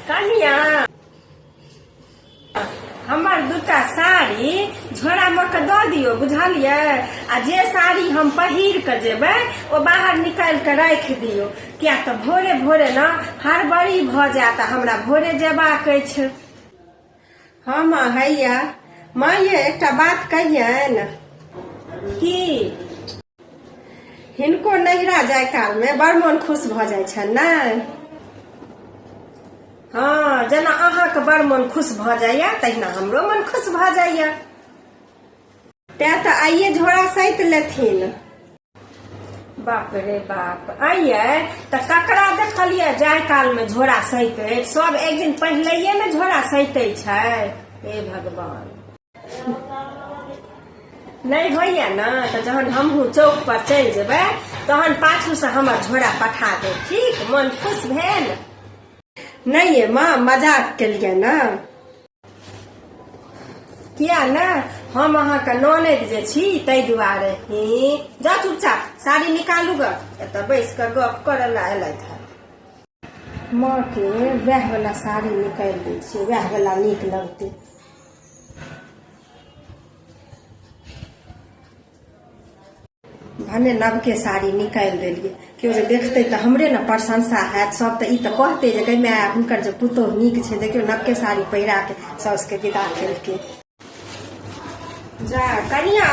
कनिया हमर दूटा साड़ी झोरा मोड़ के दऽ दियौ बुझलियै आ जे साड़ी हम पहिर कऽ जेबै ओ बाहर निकालि कऽ राखि दियौ किया तऽ भोरे भोरे ने हड़बड़ी भऽ जायत आ हमरा भोरे जेबाक अछि हँ माँ हैया माँ ये एकटा बात कहियन की हिनको नैहरा जाय काल में बड़ मन खुश भ जाय छन ने हाँ जना अहा के बड़ मन खुश भ जाय तहिना हमरो मन खुश भ जाय तै तो आइए झोरा सैत लेथिन बाप रे बाप अइये तऽ ककरा देखलियै जाय काल में झोरा सहिते सब एक दिन पहिले ने झोरा सहिते छै हे भगवान नहीं होइए ना तऽ जहन हमहूँ चौक पर चलि जेबै तहन पाछू से हमर झोरा पठा दे ठीक मन खुश भेल नहीं ये माँ मजाक के लिए ना किया ने हम अहाँके ननद जे छी ताहि दुआरे हे जा चुपचाप साड़ी निकालू ग एतऽ बैस कऽ गप करऽ ला एलथि हे माँ के वएह वाला साड़ी निकालि दै छियै वएह वाला नीक लगतै भने नवके साड़ी निकालि देलियै केओ जे देखतै तऽ हमरे ने प्रशंसा हैत सभ तऽ ई तऽ कहतै जे कहिमे हुनकर जे पुतोह नीक छै देखियौ नवके साड़ी पहिरा के साउसके विदा केलकै जा कनिया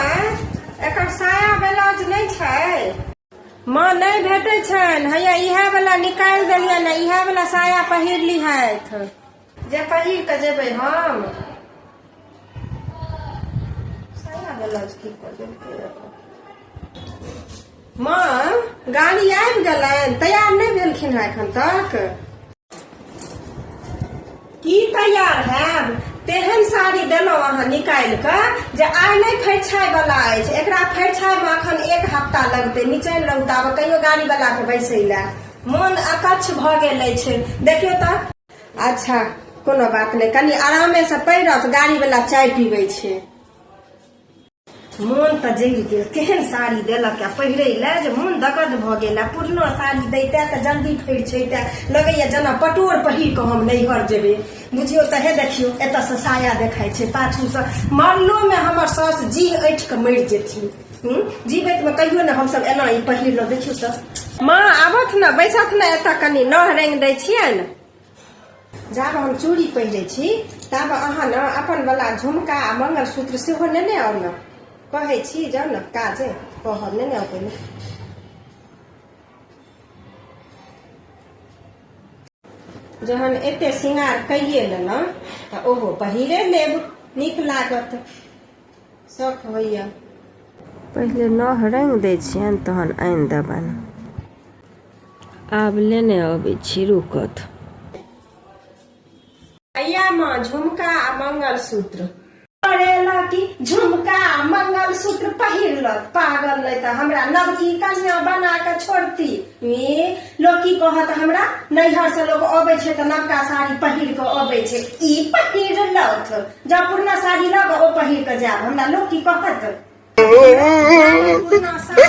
एकर साया ब्लाउज नहि छै माँ नहि भेटै छनि हैया इएह वाला निकालि देलियै ने इएह वाला साया पहिरली हथि जे पहिर कऽ जेबै हम साया ब्लाउज की कऽ देलकै माँ गाड़ी आबि गेलनि तैयार नहि भेलखिन हेँ एखन तक की तैयार हैब तेहन साड़ी देलहुँ अहाँ निकालि कऽ जे आइ नहि फरिछाइ वाला अछि एकरा फरिछाइ मे अखन एक हफ्ता लगतै निचल लौटाबऽ कहियो गाड़ी वाला के बैसै लए मोन अकच्छ भऽ गेल अछि देखियौ तऽ अच्छा कोनो बात नहि कनि आरामे से पहिरत गाड़ी वाला चाय पीबै छै मोन तऽ जरि गेल केहन साड़ी देलक आ पहिरे ले जे मोन दगद भऽ गेल आ पुरनो साड़ी दैते तऽ जल्दी फैर छैते लगैया जेना पटोर पहिर कऽ हम नैहर जेबै बुझियौ तऽ हे देखियौ एतऽसँ साया देखाइ छै पाछूसँ मरलोमे हमर सास जी ऐठ कऽ मरि जेथिन हूँ जीबैत में कहियो ने हमसब एना ई पढ़ि लिलो देखियो तऽ माँ आबत ने बैसत ने एतऽ कनि नह रंग दै छियनि जाब हम चूड़ी पहिरे छी ताब अहाँ ने अपन वाला झुमका आ मंगलसूत्र सेहो नेने आउ ने कहै छी जाउ ने काज अइ कहब नेने आउ पहिने जहन एते श्रृंगार कैये लेलहुँ तऽ ओहो पहिरे लेब नीक लागत शौक होइए पहिले नह रंग दै छियनि तहन आनि देबनि आब लेने अबै छी रुकत अय्यामे झुमका आ मंगलसूत्र पड़ेला कि झुमका आ मंगलसूत्र पहिरलक पागल नहि तऽ हमरा नवकी कन्या बना कऽ छोड़ती लोग की कहत हमरा नैहर से लोग अबे छै तऽ नवका साड़ी पहिर के अबे छै ई पहिर लौथ जब पुरना साड़ी लग ओ पहिर के जाब हमरा लोग की कहत पुरना साड़ी